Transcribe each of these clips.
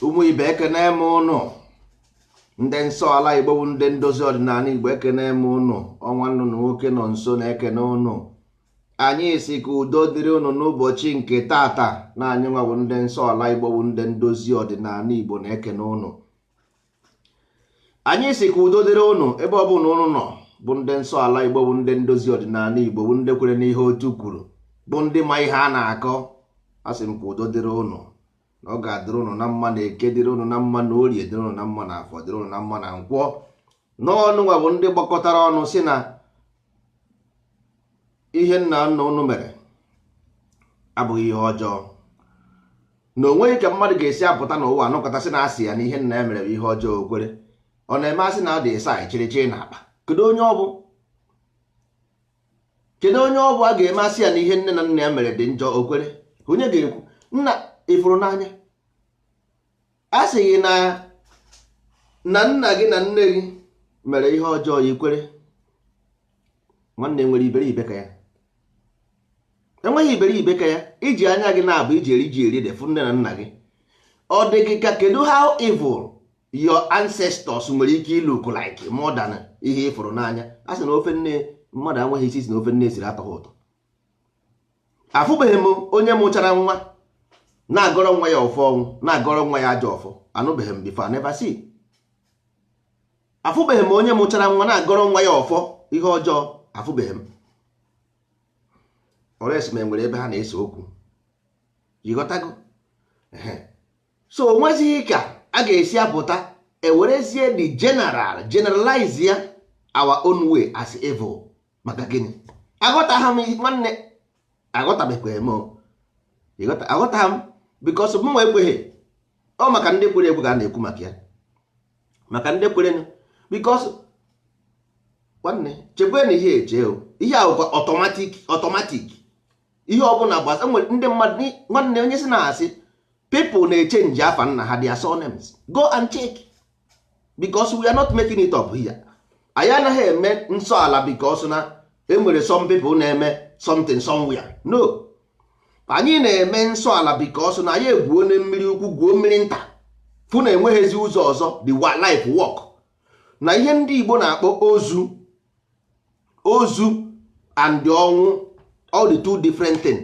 ụmụ ibe ekene m ụnụ ndị nsọ ala igbo bụ ndị ndozi ọdịnala igbo ekene m ụnụ ọ nwanne ụnụ nwoke nọnso na ekene ụnụ anyị si ka udo dịrị ụnụ n'ụbọchị nke tata na anyị nwa bụ ndị nsọ ala igbo bụ ndị ndozi ọdịnala igbo na ekene ụnụ anyị si ka udo dịrị ụnụ ebe ọ bụna ụnụ nọ bụ ndị nsọ ala igbo bụ ndị ndozi ọdịnala igbo bụ ndị kwere n'ihe otu kwuru bụ ndị ma ihe a na-akọ a sị m ka udo dịrị ụnụ na ọ ga-adịrị ụnụ na mma na eke dịrị ụnụ na mma na orie dịrị ụnụ na mma na afọ dịrị ụnụ na mma na nkwọ na ụnụ nwa bụ ndị gbakọtara ọnụ si na ihe nna nna ụnụ mere abụghị ihe ọjọọ na onweghị ka mmadụ ga-esi apụta n'ụwa anọkata sị na asị ya na ihe nna ya mere bụ ihe ọjọọ o kwere ọ na-eme asị na ọ dị isi achịrị chie na akpa kedu onye ọ bụ kedu onye ọ bụ a ga-eme asị ya na ihe nne na nna ya mere dị njọ o kwere onye ga-ekwu nna ịfụrụ n'anya a sị gị na nna gị na nne gị mere ihe ọjọọ ya i kwere nwanne enwere iberibe ka ya enweghị iberibe ka ya iji anya gị naabọ iji eri ji eri ede fụ nne na nna gị ọ dị gị ka kedu how evil your ancestors nwere ike ịlook like more than ihe ịfụrụ n'anya a sị na ofe nne mmadụ enweghị isi si na ofe nne siri atọghị ụtọ afụbeghị m onye mụchara nwa na-agọrọ nwa ya ọfọ ọnwụ na-agọrọ nwa ya ajọ ọfọ anụbeghị m before never see afụbeghị m onye mụchara nwa na-agọrọ nwa ya ọfọ ihe ọjọọ afụbeghị m unless ma enwere ebe ha na-ese okwu ị ghọtago so onwezighị ka a ga-esi apụta ewerezie the general generalize ya our own way as evil maka gịnị aghọtaghị m nwanne aghọtabekweghị m aghọtaghị m because m nwa ekweghị ọ maka ndị kwere ekwe ka a na-ekwu maka ya maka ndị kwere because nwanne chekwe na ihe eche ihe ahụ automatic automatic ihe ọbụla gbasa nwere ndị mmadụ nwanne onye si na-asị people na-echenji afa nna ha their surnames go and check because we are not making it up here anyị anaghị eme nsọ ala because na enwere some people na-eme something somewhere no anyị na-eme nsọ ala because na anyị egwuona mmiri ukwu gwuo mmiri nta fụ na enweghịzi ụzọ ọzọ the life work na ihe ndị Igbo na-akpọ ozu ozu and ọnwụ all the two different things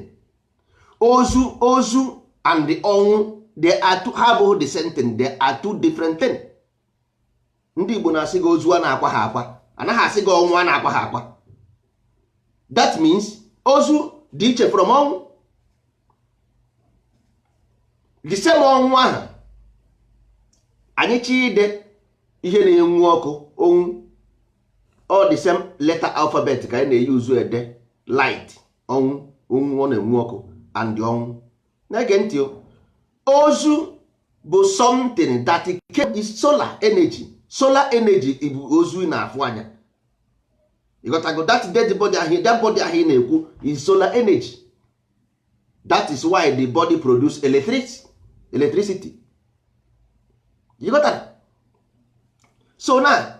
ozu ozu and the ọnwụ they are two, ha abụghị the same thing they are two different thing ndị Igbo na-asị gị ozu a na-akwa ha akwa anaghị asị gị ọnwụ a na-akwa ha akwa that means ozu dị iche from ọnwụ the same ọnwụ ahụ anyị ji ede ihe na-enwu ọkụ onwu all the same letter alphabet ka anyị na-euse ede light ọnwụ onwu ọ na-enwu ọkụ and ọnwụ na-ege ntị ozu bụ something that is solar energy solar energy bụ ozu ị na-afụ anya ịghọtago that dead body ahụ that body ahụ ị na-ekwu is solar energy that is why the body produce electricity electricity ịghọta? so now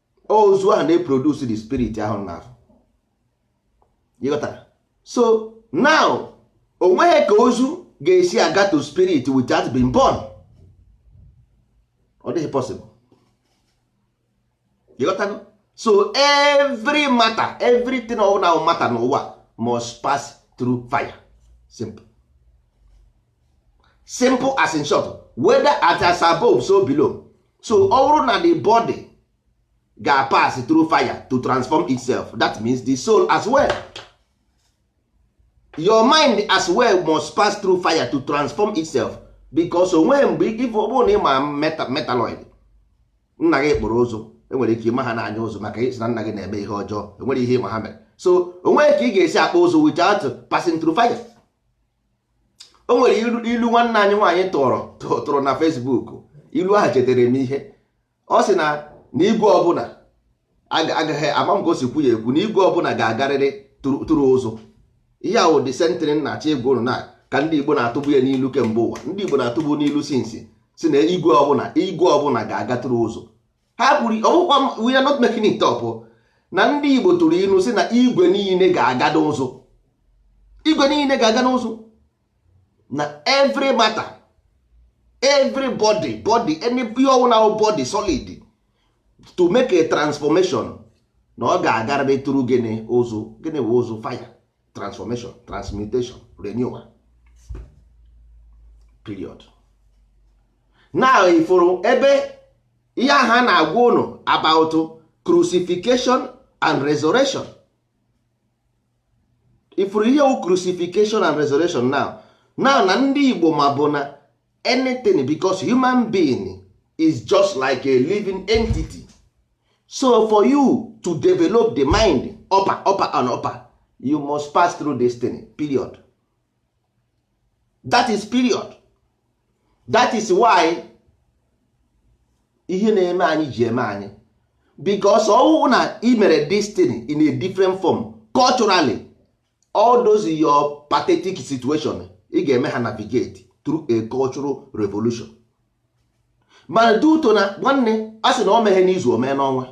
ozu ahụ na-eproduce the spirit ahụ na ahụ ịghọta so now onweghị ka ozu ga-esi aga to spirit without being burn ọ dịghị possible ịghọta so every matter everything ọwụna wụ matter n'ụwa must pass through fire simple simple as in short whether at as above so below so ọ bụrụ na the body ga pass through fire to transform itself that means the soul as well your mind as well must pass through fire to transform itself because onwe mgbe if ọ bụrụ na ịma meta metaloid nna gị kpụrụ ụzụ enwere ike ịma ha n'anya ụzụ maka ịsị na nna gị na-eme ihe ọjọọ enwere ihe ịma ha mere so onwe ka ị ga-esi akpụ ụzụ without passing through fire o nwere ilu nwanne anyị nwaanyị tụrụ tụrụ na Facebook ilu ahụ chetere m ihe ọ sị na na igwe ọbụla agaghị ama m ka o si kwu ya ekwu na igwe ọbụla ga-agarịrị through ụzụ ihe ahụ the same thing na-achọ ịgwa ụnụ na ka ndị Igbo na-atụbu ya n'ilu kemgbe ụwa ndị Igbo na-atụbu n'ilu since sị na igwe ọbụla igwe ọbụla ga-aga through ụzụ ha kwuru ọwụkwa we are not making it up oh. na ndị Igbo tụrụ ilu sị na igwe niile ga-aga n'ụzụ igwe niile ga-aga n'ụzụ na every matter every body body any ihe ọwụla wụ body solid to make a transformation na ọ ga-agarịrị through gịnị ụzụ gịnị bụ ụzụ fire transformation transmutation renewal period now ifụrụ ebe ihe a ha na-agwa ụnụ about crucifixion and resurrection ifụrụ ihe wụ crucifixion and resurrection now now na ndị Igbo mabu na anything because human being is just like a living entity so for you to develop the mind upper upper and upper you must pass through destiny period that is period that is why ihe na-eme anyị ji eme anyị because ọwụwụ na imere destiny in a different form culturally all those your pathetic situation ị ga-eme ha navigate through a cultural revolution mana dị ụtọ na nwanne a sị na o meghe n'izu o mee n'ọnwa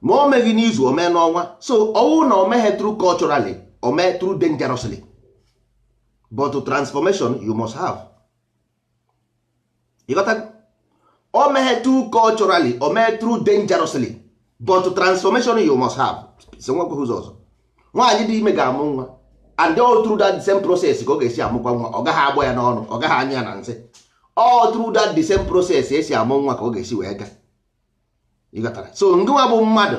ma o meghị n'izu o mee n'ọnwa so ọ wụ na o meghe through culturally o mee through dangerously but transformation you must have ị ghọtago o meghe through culturally o mee through dangerously but transformation you must have so o nwekweghị ụzọ ọzọ nwaanyị dị ime ga-amụ nwa and all through that same process ka ọ ga-esi amụkwa nwa ọ gaghị agbọ ya n'ọnụ ọ gaghị anyụ ya na nsị all through that the same process e si amụ nwa ka ọ ga-esi wee gaa ị ghọtara so ngịnwa bụ mmadụ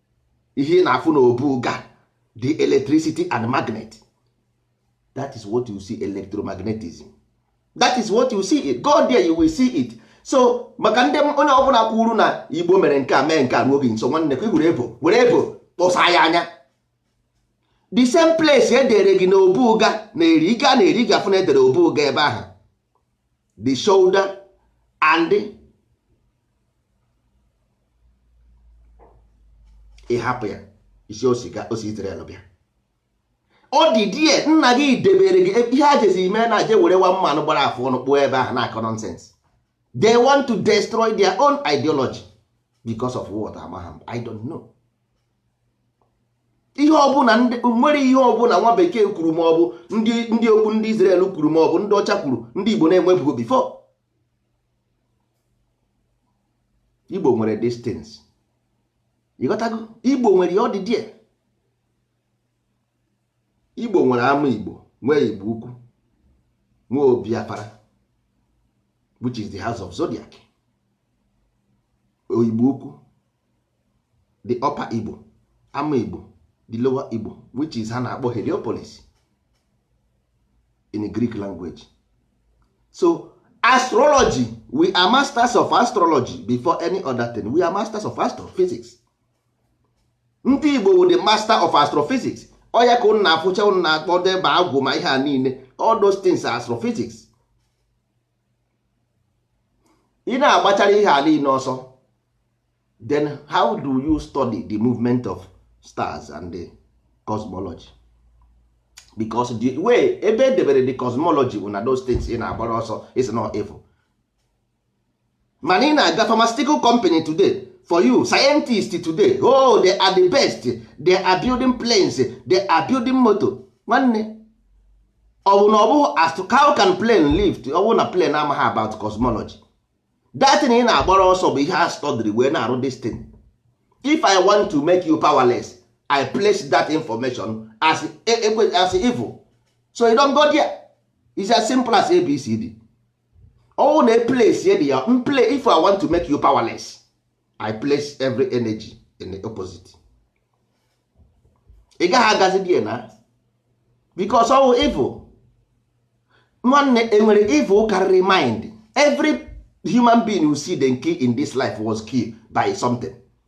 ihe ị na-afụ na obuga the electricity and magnet that is what you see electromagnetism that is what you see it go there you will see it so maka ndị onye ọbụla kwuru na igbo mere nke a mee nke a nọ gị nso nwanne ka i were elbow were elbow kpọsa ya anya the same place e dere gị na obuga na eri ị gaa na eri ị ga-afụ na e dere obuga ebe ahụ the shoulder and ị hapụ ya ị sị o siga o si Israel bịa ọ dị die nna gị debere gị ihe a jezi ime na je were nwa mmanụ gbara afụ ọnụ kpụọ ebe ahụ na-akọ nonsense they want to destroy their own ideology because of what amagha m I don't know ihe ọbụla nwere ihe ọbụla nwa bekee kwuru ma ọ bụ ndị ndị okwu ndị Israel kwuru ma ọ bụ ndị ọcha kwuru ndị Igbo na-enwebugo before Igbo nwere these things ị ghọtago Igbo nwere ya ọ dị die Igbo nwere ama Igbo nwee Igbo ukwu nwee obi afara which is the house of zodiac Igbo ukwu the upper igbo ama igbo the lower igbo which is ha na-akpọ heliopolis in greek language so astrology we are masters of astrology before any other thing we are masters of astrophysics ndị igbo wụ the master of astrophysics ọ ya ka ụnụ na-afụcha ụnụ na-akpọ dibịa agwụ ma ihe a niile all those things are astrophysics ị na-agbachara ihe a niile ọsọ then how do you study the movement of stars and the cosmology because the way ebe e debere the cosmology bụ na those things ị na-agbara ọsọ is not evil mana ị na-aga pharmaceutical company today for you scientist today oh they are the best they are building planes they are building motor nwanne ọ bụ na ọ bụghị as to how can plane lift ọ bụrụ na plane amaghị about cosmology that thing ị na-agbara ọsọ bụ ihe ha study wee na-arụ this thing if i want to make you powerless i place that information as e, e, as evil so you don't go there it's as simple as abcd ọwụ na place ye dị ya mple if i want to make you powerless i place every energy in the opposite ị gaghị agazi there na because ọwụ evil nwanne enwere evil karịrị mind every human being you see them kill in this life was killed by something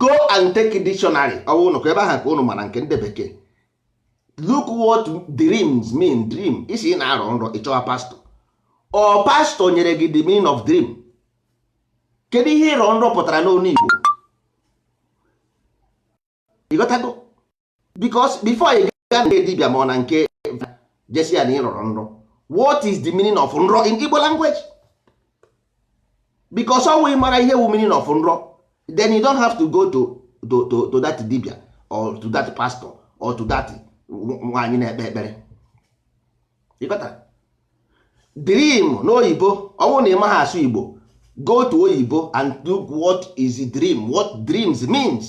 go and take dictionary ọ bụrụ na ebe ahụ ka ụnụ mara nke ndị bekee look what dreams mean dream ị sị ị na-arọ nrọ ị chọwa pastor ọ pastor nyere gị the meaning of dream kedu ihe ịrọ nrọ pụtara n'ọnụ Igbo ịghọtago because before ị gaa na dibia ma ọ na nke je sị ya na ị rọrọ nrọ what is the meaning of nrọ in Igbo language because ọ wụ ị mara ihe wụ meaning of nrọ then you don't have to go to to to, to that dibia or to that pastor or to that nwaanyị na-ekpe ekpere ịghọta dream n'oyibo ọ bụrụ na ị maghị asụ igbo go to oyibo and look what is dream what dreams means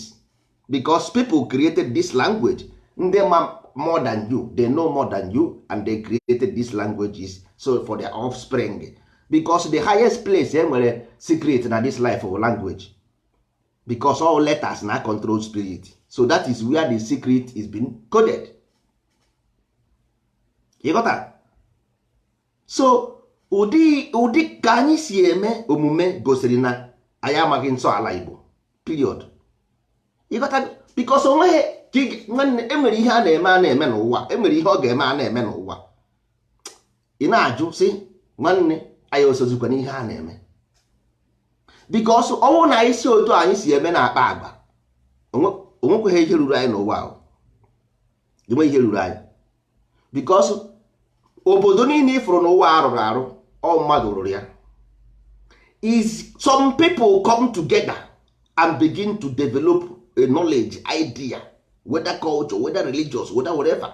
because people created this language ndị ma more than you they know more than you and they created these languages so for their offspring because the highest place e nwere secret na this life ọ language because all letters na-control spirit so that is where the secret is being coded ịghọta so ụdị ụdị ka anyị si eme omume gosiri na anyị amaghị nsọ ala Igbo period ịghọta because onweghị nwanne enwere ihe a na-eme a na-eme n'ụwa enwere ihe ọ ga-eme a na-eme n'ụwa ị na-ajụ sị nwanne anyị osozikwa n'ihe a na-eme because ọwụ na anyị si otu anyị si eme na-akpa agba onwekweghị ihe ruru anyị n'ụwa ahụ enwe ihe ruru anyị because obodo niile ị fụrụ n'ụwa arụrụ arụ ọ mmadụ rụrụ ya is some people come together and begin to develop a knowledge idea whether culture whether religious whether whatever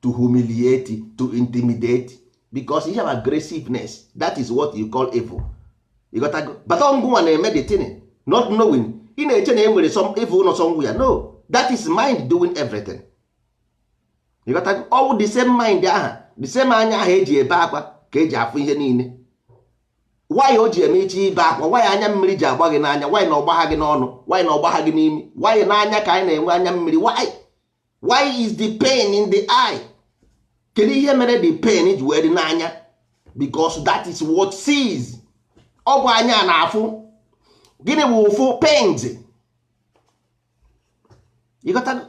to humiliate to intimidate because you have aggressiveness that is what you call evil ịghọtago but ngịnwa na-eme the thing not knowing ị na-eche na e nwere some evil nọ somewhere no that is mind doing everything ịghọtago ọ wụ the same mind aha the same anya aha eji ebe akwa ka eji afụ ihe niile why o ji eme iche ibe akwa why anya mmiri ji agba gị n'anya why na ọ gbagha gị n'ọnụ why na ọ gbagha gị n'imi why n'anya ka anyị na-enwe anya mmiri why why is the pain in the eye kedu ihe mere the pain ji wee dị n'anya because that is what sees ọ bụ anya na-afụ gịnị bụ ụfụ pains ịghọtago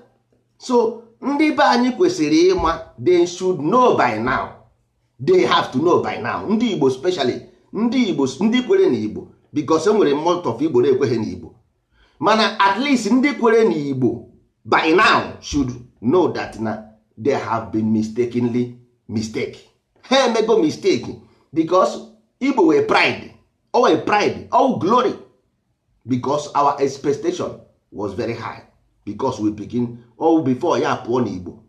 so ndị be anyị kwesịrị ịma they should know by now they have to know by now ndị Igbo specially ndị Igbo ndị kwere na Igbo because enwere most of Igbo na-ekweghị na Igbo mana at least ndị kwere na igbo by now should know that na they have been mistakenly mistake ha emego mistake because igbo were pride o were pride all glory because our expectation was very high because we begin all before ya pụọ na igbo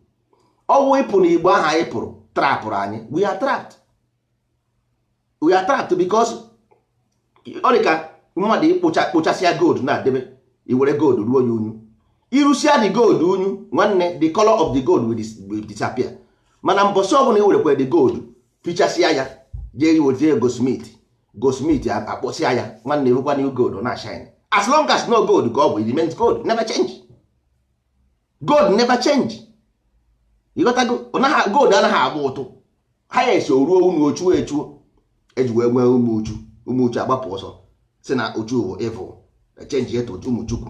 ọ wụ ịpụ na igbo ahụ anyị pụrụ trapụrụ anyị we are trapped we are trapped because ọ dị ka mmadụ ịkpụcha kpụchasịa gold na-adebe i were gold ruo ya unyu i rusia the gold unyu nwanne the color of the gold will disappear mana mbọsị ọbụla i werekwa the gold fichasịa ya jee iweta a goldsmith goldsmith akpọsịa ya nwanne ọ bụkwa new gold na shine as long as na ọ gold ka ọ bụ remains gold never change gold never change ịghọtago gold anaghị agba ụtụ ha ya esi o ruo unyu o chuo echuo eji wee nwee ụmụ uchu ụmụ uchu agbapụ ọsọ sị na uchu bụ evil echenjie to ụmụ chukwu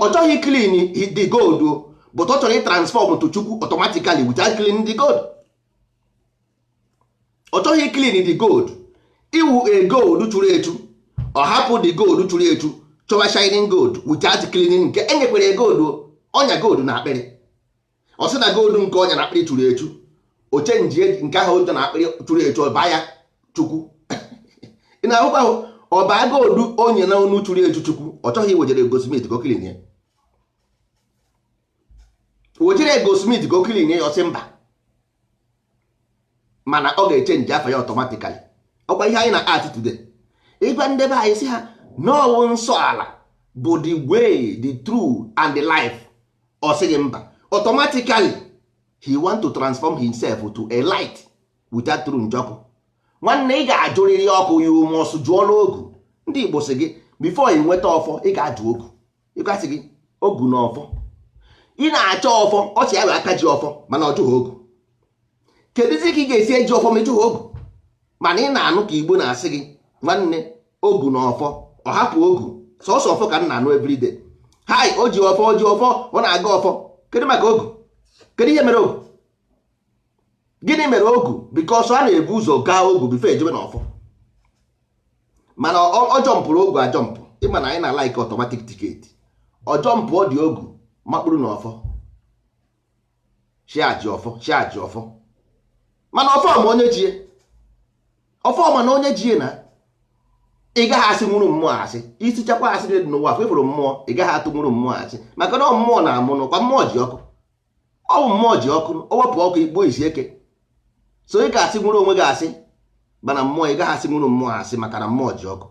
ọ chọghị clean the gold but ọ chọrọ ịtransform to chukwu automatically without clean the gold ọ chọghị clean the gold ị wụ a gold churu echu ọ hapụ the gold churu echu chọwa shining gold without cleaning nke enyekwere gold ọ nya gold na akpịrị ọ sị na gold nke ọ nya na akpịrị churu echu o chenji nke ahụ ụjọ na akpịrị churu echu ọ baa ya chukwu ị na-ahụkwa ahụ ọ baa gold ọ nya na onu churu echu chukwu ọ chọghị iwejere goldsmith ka o clean ya wejere goldsmith ka o clean ya ọ sị mba mana ọ ga-echenji afa ya automatically ọ kwa ihe anyị na act today ị gwa ndị be anyị sị ha na ọ wụ nsọ ala bụ the way the truth and the life ọ sị gị mba automatically he want to transform himself to a light without through njọkụ nwanne ị ga-ajụrịrị ọkụ ya you must jụọla ogu ndị Igbo sị gị before ị nweta ọfọ ị ga-ajụ ogu ị ga-asị gị ogu na ọfọ ị na-achọ ọfọ ọ sị ya wụ aka ji ọfọ mana ọ jụghị ogu kedụzi ka ị ga-esi eji ọfọ ma ị jụghị ogu mana ị na-anụ ka igbo na-asị gị nwanne ogu na ọfọ ọ hapụ ogu sọsọ ọfọ ka m na-anụ everyday hai o ji ọfọ o ji ọfọ ọ na-agọ ọfọ kedu maka ogu kedu ihe mere ogu gịnị mere ogu because a na-ebu ụzọ gaa ogu before e jebe na ọfọ mana ọ jọmpụrụ ogu ajọmpụ ị ma na anyị na-alike automatic ticket ọ jọmpụọ dị ogu makpụrụ na ọfọ sị ya ji ọfọ sị ya ji ọfọ mana ọfọ ma onye ji ya ọfọ ma na onye ji ya na ị gaghị asịnwụrụ mmụọ asị ị sịchakwa asị dị n'ụwa afọ ị fụrụ mmụọ ị gaghị atụnwụrụ mmụọ asị maka na mmụọ na-amụ n'ụkwa mmụọ ji ọkụ ọ wụ mmụọ ji ọkụ o wepụ ọkụ igbo isi eke so ị ga-asịnwụrụ onwe gị asị mana mmụọ ị gaghị asịnwụrụ mmụọ asị maka na mmụọ ji ọkụ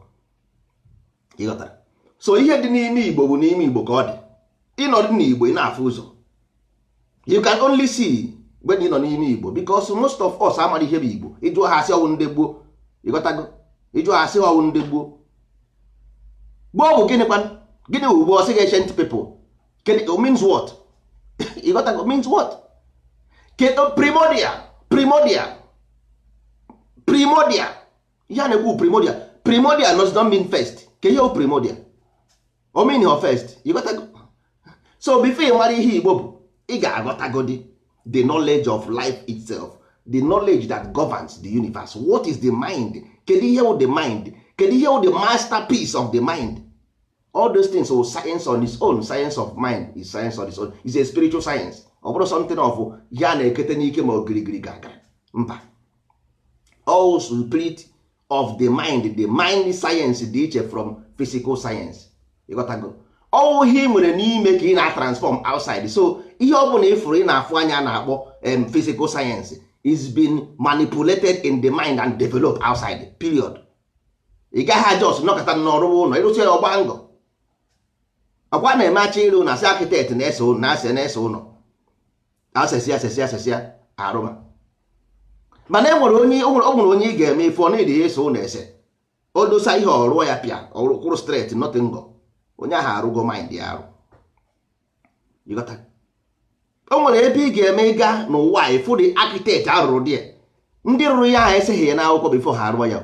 ị ghọtara so ihe dị n'ime igbo bụ n'ime igbo ka ọ dị ị nọdụ n'igbo ị na-afụ ụzọ you can only see mgbe ị nọ n'ime igbo because most of us amarọ ihe bụ igbo ị jụọ ha a sị ọ wụ ndị gboo ị ghọtago ị jụọ ha a sị ọ wụ ndị gboo gboo bụ gịnịkwanụ gịnị wụ gboo ọ sị gị ancient people it means what ị ghọtago means what kedu primordial primordial primordial ihe a na-ekwu primordial primordial does not mean first kee ihe primordial ọ meanrọ first ị ghọtago so before ị mara ihe igbo bụ ị ga-aghọtagodi the knowledge of life itself the knowledge that governs the universe what is the mind kedu ihe wụ the mind kedu ihe wụ the masterpiece of the mind all those things wụ science on its own science of mind is science on its own is a spiritual science ọ bụrọ something of ihe a na-eketa n'ike ma ọ gịrịgịrị gragra mba ọ wụ spirit of the mind the mind science dị iche from physical science ị ghọtago ọ wụ ihe ị nwere n'ime ka ị na-atransform outside so ihe ọ bụla ị fụrụ ị na-afụ anya a na-akpọ physical science is being manipulated in the mind and developed outside period ị gaghị ajust nọkata na ọ rụwa ụlọ ị rụsịa ọ gbaa ngọ ọkwa na-eme a chọọ ịrụ ụlọ a sị architect na-ese ụlọ na-ase na-ese ụlọ e sesị e sesị e sesịa a rụma mana e nwere onye o nwere onye ị ga-eme ị fụ ọ nadịghị ese ụlọ ese o dosa ihe ọ rụọ ya pịa ọ kwụrụ straight nothing ngọ onye ahụ arụgo mind ya arụ o nwere ebe ị ga-eme ị gaa n'ụwa ị fụ ụdị architect a rụrụ dị ya ndị rụrụ ya ahụ eseghị ya n'akwụkwọ before ha arụọ ya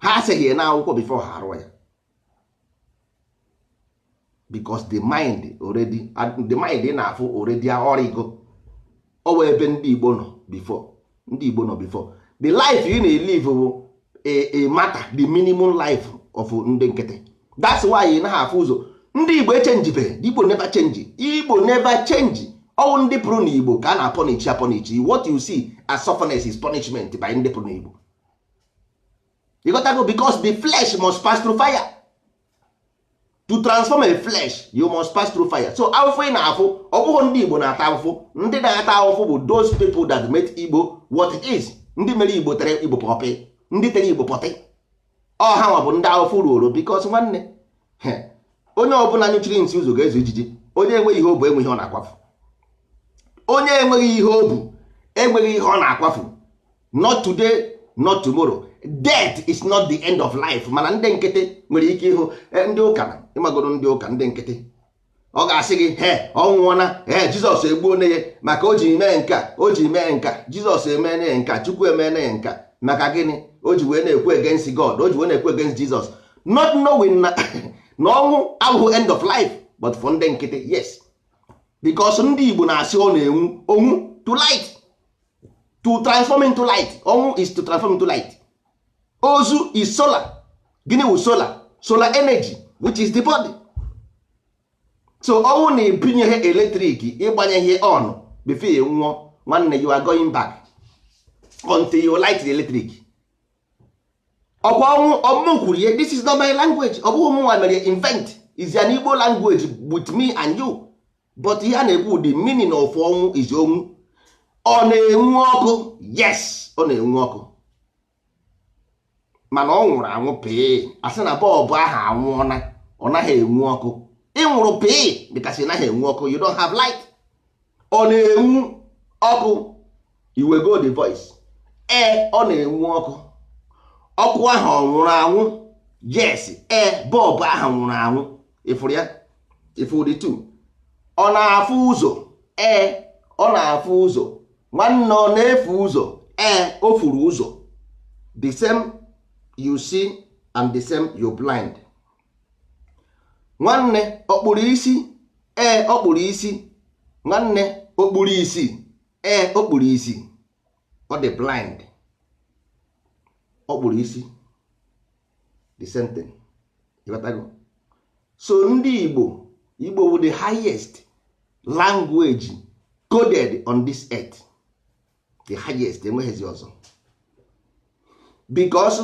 ha eseghị ya n'akwụkwọ before ha arụọ ya because the mind already the mind na-afụ already ọ rụgo ọ wee ebe ndị Igbo nọ before ndị Igbo nọ before the life ị na-elive bụ a matter the minimum life of ndị nkịtị that's why ị naghị afụ ụzọ ndị Igbo echenjibeghị the Igbo never change Igbo never change ọ wụ ndị pụrụ na Igbo ka a na-apọnichi apọnichi what you see as sufferness is punishment by ndị pụrụ na Igbo ịghọtago because the flesh must pass through fire to transform a flesh you must pass through fire so afụfụ ị na-afụ ọ bụghị ndị igbo na-ata afụfụ ndị na-ata afụfụ bụ those people that made igbo what it is ndị mere igbo tere igbo pọtị ndị tere igbo pọtị ọ hanwa bụ ndị afụfụ ruoro because nwanne onye ọbụla nyụchiri nsị ụzọ ga-ezu ijiji onye enweghị ihe o bu enweghị ihe ọ na-akwafu onye enweghị ihe o bu enweghị ihe ọ na-akwafu not today not tomorrow death is not the end of life mana ndị nkịtị nwere ike ịhụ eh, ndị ụka ịmagoro ndị ụka ndị nkịtị ọ ga-asị gị he ọ nwụọna ee jizọs egbuona ya maka o ji mee nka o ji mee nka jizọs emeena ya nka chukwu emeena ya nka maka gịnị o ji wee na-ekwu against god o ji wee na-ekwu against jizọs not knowing na na ọnwụ abụghị end of life but for ndị nkịtị yes because ndị igbo na-asị ọ na-enwu onwu to light to transform into light ọnwụ is to transform into light ozu is solar gịnị wụ solar solar energy which is the body so ọnwụ na-ebinye ihe electric ịgbanye ihe on before ya nwụọ nwanne you are going back until you light the electric ọ kwa ọnwụ ọ mụ kwuru ya this is not my language ọ bụghị mụnwa mere invent is an Igbo language with me and you but ihe a na-ekwu the meaning of ọnwụ is onwu ọ na-enwu ọkụ yes ọ na-enwu ọkụ mana ọ nwụrụ anwụ pịị a sị na bọlbụ ahụ anwụọna ọ naghị enwu ọkụ ị nwụrụ pịị because ị naghị enwu ọkụ you don't have light ọ na-enwu ọkụ i wego the voice ee ọ na-enwu ọkụ ọkụ ahụ ọ nwụrụ anwụ yes ee bọlbụ ahụ nwụrụ anwụ ịfụrụ ya ịfụ the two ọ na-afụ ụzọ ee ọ na-afụ ụzọ nwanne ọ na-efu ụzọ ee o furu ụzọ the same you see and the same you blind nwanne ọ kpụrụ isi ee ọ kpụrụ isi nwanne o kpuru isi ee o kpuru isi ọ dị blind o kpuru isi the same thing ịghọtago so ndị Igbo Igbo bụ the highest language coded on this earth the highest enweghịzi ọzọ because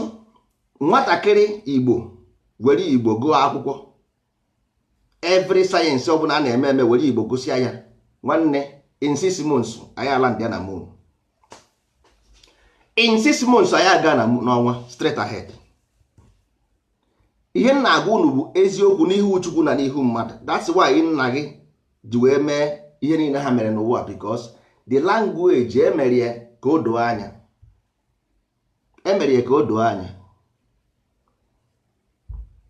nwatakịrị Igbo were Igbo gụọ akwụkwọ every science ọbụla a na-eme eme were igbo gosi ya nwanne in six months anyị alandị na moon in six months anyị aga na n'ọnwa straight ahead ihe m na-agwa unu bụ eziokwu n'ihu chukwu na n'ihu mmadụ that's why nna gị ji wee mee ihe niile ha mere n'ụwa because the language e mere ya ka o doo anya e mere ya ka o doo anya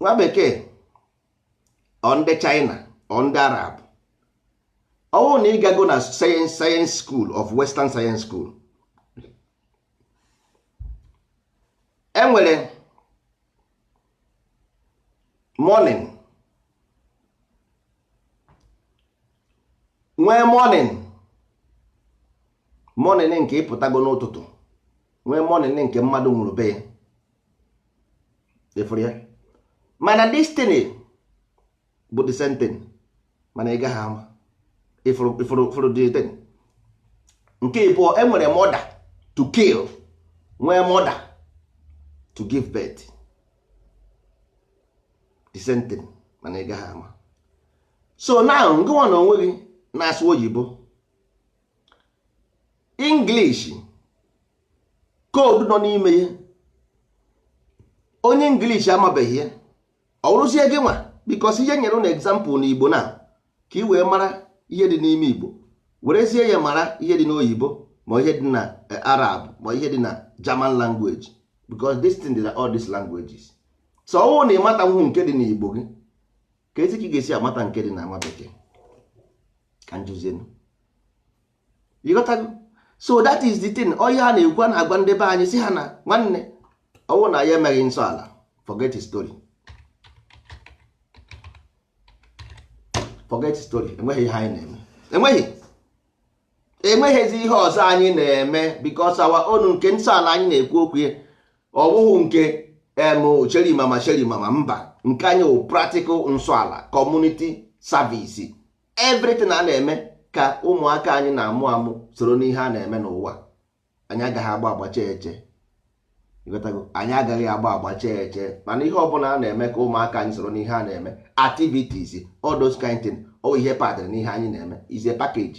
nwa bekee or ndị China or ndị Arab ọ wụrụ na ị gago na science science school of western science school e nwere morning nwee mourning morning nke ị pụtago n'ụtụtụ nwee mourning nke mmadụ nwụrụ be ya ị fụrụ ya mana this thing bụ the same thing mana ị gaghị ama ị fụrụ the thing nke ịbụọ e nwere murder to kill nwee mother to give birth the same thing mana ị gaghị ama so now gịnwa na onwe gị na-asụ oyibo English code nọ n'ime ya onye English amabeghị ya ọ wụrụzie gị nwa because ihe m nyere unu example na Igbo na ka ị wee mara ihe dị n'ime igbo werezie ya mara ihe dị n'oyibo ma ihe dị na eh, arab ma ihe dị na german language because this thing dị na all these languages so ọ wụ na ị matanwụhụ nke dị n'igbo gị keezi ka ị ga-esi amata nke dị na nwa bekee ka m jụzienụ ị ghọtago so that is the thing onye a na-ekwu a na-agwa ndị be anyị sị ha na nwanne ọ wụ na ya emeghị nsọ ala forget his story forget his story enweghị ihe anyị na-eme enweghị enweghịzi ihe ọzọ anyị na-eme because our own nke nsọ ala anyị na-ekwu okwu ya ọ wụhụ nke em sherimama sherimama mba nke anyị wụ practical nsọ ala community service everything a na-eme ka ụmụaka anyị na-amụ amụ soro n'ihe a na-eme n'ụwa anyị agaghị agba agbacha eche anyị agaghị agba agbacha eche mana ihe ọbụla a na-eme ka ụmụaka anyị soro n'ihe a na-eme activities all those kind thing ọ ihe padịrị n'ihe anyị na-eme is a package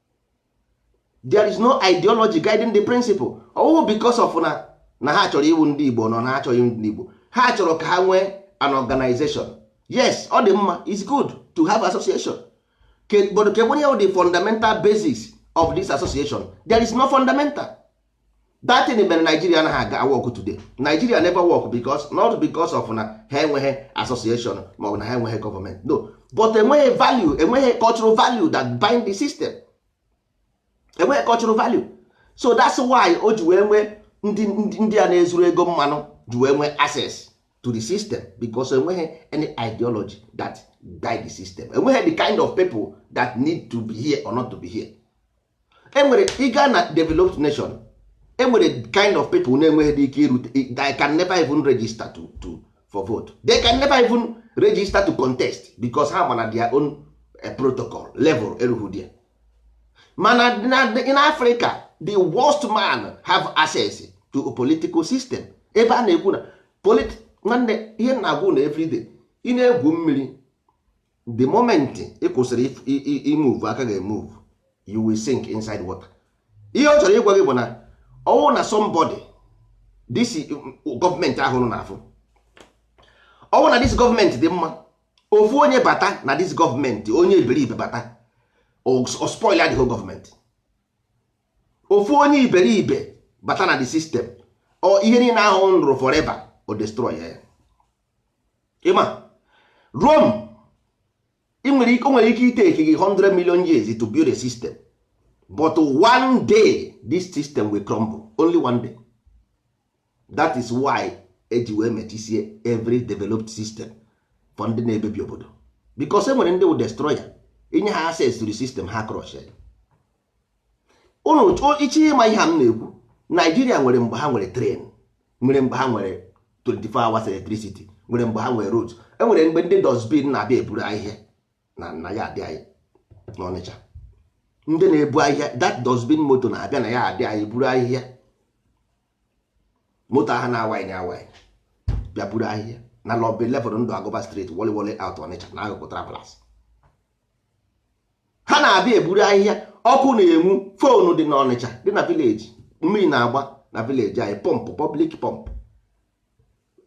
there is no ideology guiding the principle ọ wụ because of na na ha chọrọ ịwụ ndị Igbo no na ha cha wụ ndị Igbo ha chọrọ ka ha nwee an organization yes ọ dị mma is good to have association but kee bụ the fundamental basis of this association there is no fundamental that thing mere Nigeria anaghị aga work today Nigeria never work because not because of na ha enweghị association ma ọ bụ na ha enweghị government no but enweghị value enweghị cultural value that bind the system enweghị cultural value so that's why o ji wee nwee ndị a na-ezuru ego mmanụ ji wee nwee access to the system because enweghị any ideology that guide the system enweghị the kind of people that need to be here or not to be here enwere ị gaa na developed nation enwere kind of people na-enweghịdị ike irute they can never even register to, to for vote they can never even register to contest because ha ma na their own eh, protocol level eruhu there mana in africa the worst man have access to a political system ebe a na-ekwu na nwanne ihe na-agwụ na everyday ị na-egwu mmiri the moment ị kwụsịrị imove aka gị emove you will sink inside water ihe ọ chọrọ ịgwa gị bụ na ọ wụrụ na somebody this gọọmenti ahụ ụnụ na-afụ ọ wụrụ na this gọọmenti dị mma ofu onye bata na this gọọmenti onye iberibe bata o spoilaa the whole gọọmenti ofu onye iberibe bata na the system ọ ihe niile ahụ ụnụ rụrụ forever o destroy ya ị ma Rome i nwere ike nwere ike itake gị 100 million years to build a system but one day this system will crumble only one day that is why e ji wee mechisie every developed system for ndị na-ebebi obodo because e nwere ndị wụ destroyer i nye ha access to the system ha crush ya ụnụ iche ịma ihe a m na-ekwu Nigeria nwere mgbe ha nwere train nwere mgbe ha nwere 24 hours electricity nwere mgbe ha nwere road enwere mgbe ndị dustbin na-abịa eburu ahịhịa na na yard anyị n'ọnịcha ndị na-ebu ahịhịa that dustbin moto na-abịa na yard anyị buru ahịhịa moto ahụ na-awaghị na awaghị bịa buru ahịhịa na number 11 Ndụagụba street Woliwo Layout ọnịcha n'akụkụ Travellers ha na-abịa eburu ahịhịa ọkụ na-enwu phone dị n'ọnịcha dị na village mmiri na-agba na village anyị pump public pump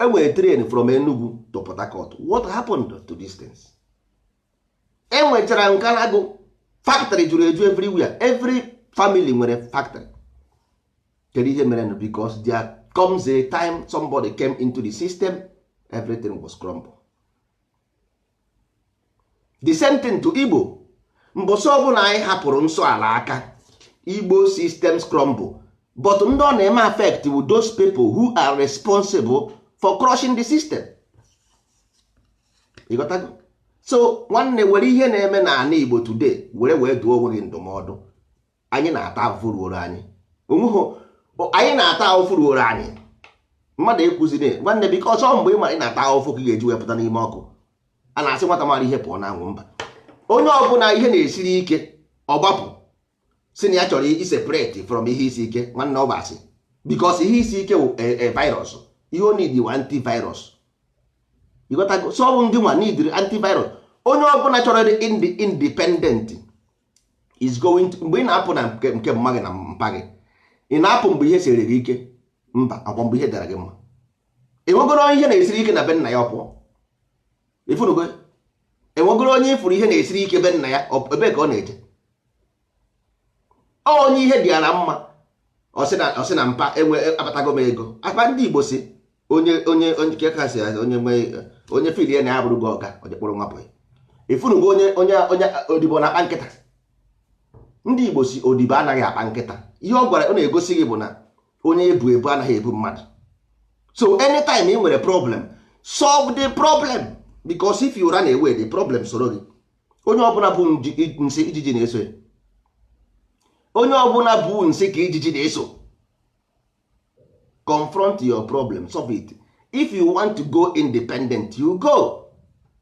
enwere train from Enugu to Port Harcourt what happened to these things enwechara Nkalagu factory juru eju everywhere every family nwere factory kedu ihe mere nụ because there comes a time somebody came into the system everything was crumble the same thing to igbo mbọsị ọ bụla anyị hapụrụ nsọ ala aka igbo systems crumble but ndị ọ na-eme affect wụ those people who are responsible for crushing the system ị ghọtago so nwanne were ihe na-eme n'ana igbo today were wee dụọ onwe gị ndụmọdụ anyị na-ata afụfụ ruoro anyị onweghị anyị na-ata afụfụ ruoro anyị mmadụ ekwuziri nwanne because ọ mgbe ị mara ị na-ata afụfụ ka ị ga-eji wepụta n'ime ọkụ a na-asị nwata mara ihe pụọ na anwụ mba onye ọbụla ihe na-esiri ike ọ gbapụ sị na ya chọrọ iseparate from ihe isi ike nwanne ọ bụ asị because ihe isi ike wụ eh, eh, virus ihe ọ need wụ antivirus ịghọtago so ọ bụ ndị nwa needịrị antivirus onye ọbụla chọrọ ịdị indi- independent is going to mgbe ị na-apụ na nke nke mma gị na mpa gị ị na-apụ mgbe ihe siri gị ike mba ọ kwa mgbe ihe dịara gị mma enwegoro onye ihe na-esiri ike na be nna ya ọ pụọ ịfụnugo enwegoro onye ịfụrụ ihe na-esiri ike be nna ya ọ- ebee ka ọ na-eje Ọ onye ihe dị ya na mma ọ sị na- ọ sị na mpa enwe abatago m ego akpa ndị igbo sị onye onye onye nke kasị ya onye nwe onye feel ya na ya abụrụgo ọga ọ je kpọrọ nwa bọyị ịfụnugo onye onye onye odibo na-akpa nkịta ndị igbo sị odibo anaghị akpa nkịta ihe ọ gwara ọ na-egosi gị bụ na onye e bu ebu anaghị ebu mmadụ so anytime ị nwere problem solve the problem because if you run away the problem soro gị onye ọbụla bu nji- i- nsị ijiji na-eso ya onye ọbụla bu nsị ka ijiji na-eso confront your problem solve it if you want to go independent you go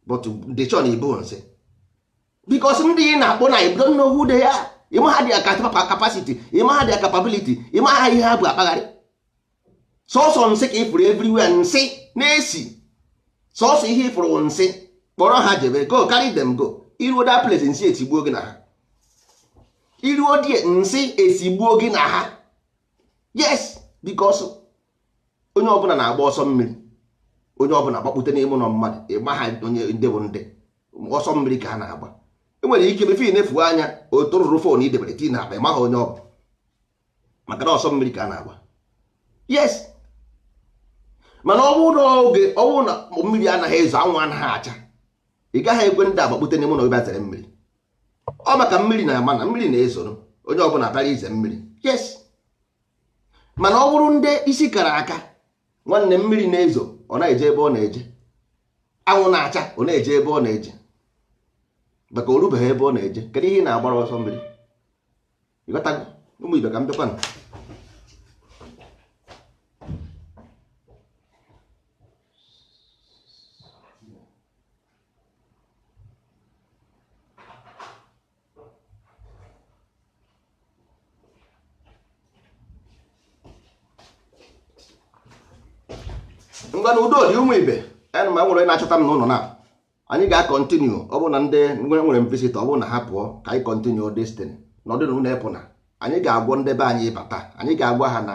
but the chon ibu nsị because ndị ị na-akpọ na you don't know who they are ịmaha their capacity ịmaha their capability ịmaha ihe ha bu akpagharị sọsọ nsị ka ịfụrụ everywhere nsị na-esi sọsọ ihe ịfụrụ nsị kpọrọ ha jebe go carry them go iruo that place nsị etigbuo gị na ha iruo there nsị esigbuo gị na ha yes because onye ọbụla na-agba ọsọ mmiri onye ọbụla gbakpute n'ime ụlọ mmadụ ịmaha onye ndị bụ ndị ọsọ mmiri ka ha na-agba enwere ike before ị na-efu anya ọ tụrụrụ phone i debere tii na akpa ị maghị onye ọ bụ maka na ọsọ mmiri ka a na-agba yes mana ọ bụrụ na oge ọ bụrụ na mmiri anaghị ezo anwụ anaghị acha ị gaghị ekwe ndị a gbakpute n'ime ụlọ ebe a zere mmiri ọ maka mmiri na-ama na mmiri na-ezoro onye ọbụla bịara ize mmiri yes mana ọ bụrụ ndị isi kara aka nwanne mmiri na-ezo ọ na-eje ebe ọ na-eje anwụ na-acha ọ na-eje ebe ọ na-eje maka o rubeghị ebe ọ na-eje kedu ihe ị na-agbara ọsọ mmiri ịghọtago ụmụ ibe ka m bịakwanụ ngwanụ udo dị ụmụ ibe ana m nwere na-achọta m n'ụlọ na anyị ga-akọntinu ọ bụrụ na ndị nwere visita ọ bụrụ na ha pụọ ka anyị kọntinu distin nọdịnụ unu epụna anyị ga-akpọ ndị be anyị bata anyị ga-agwa ha na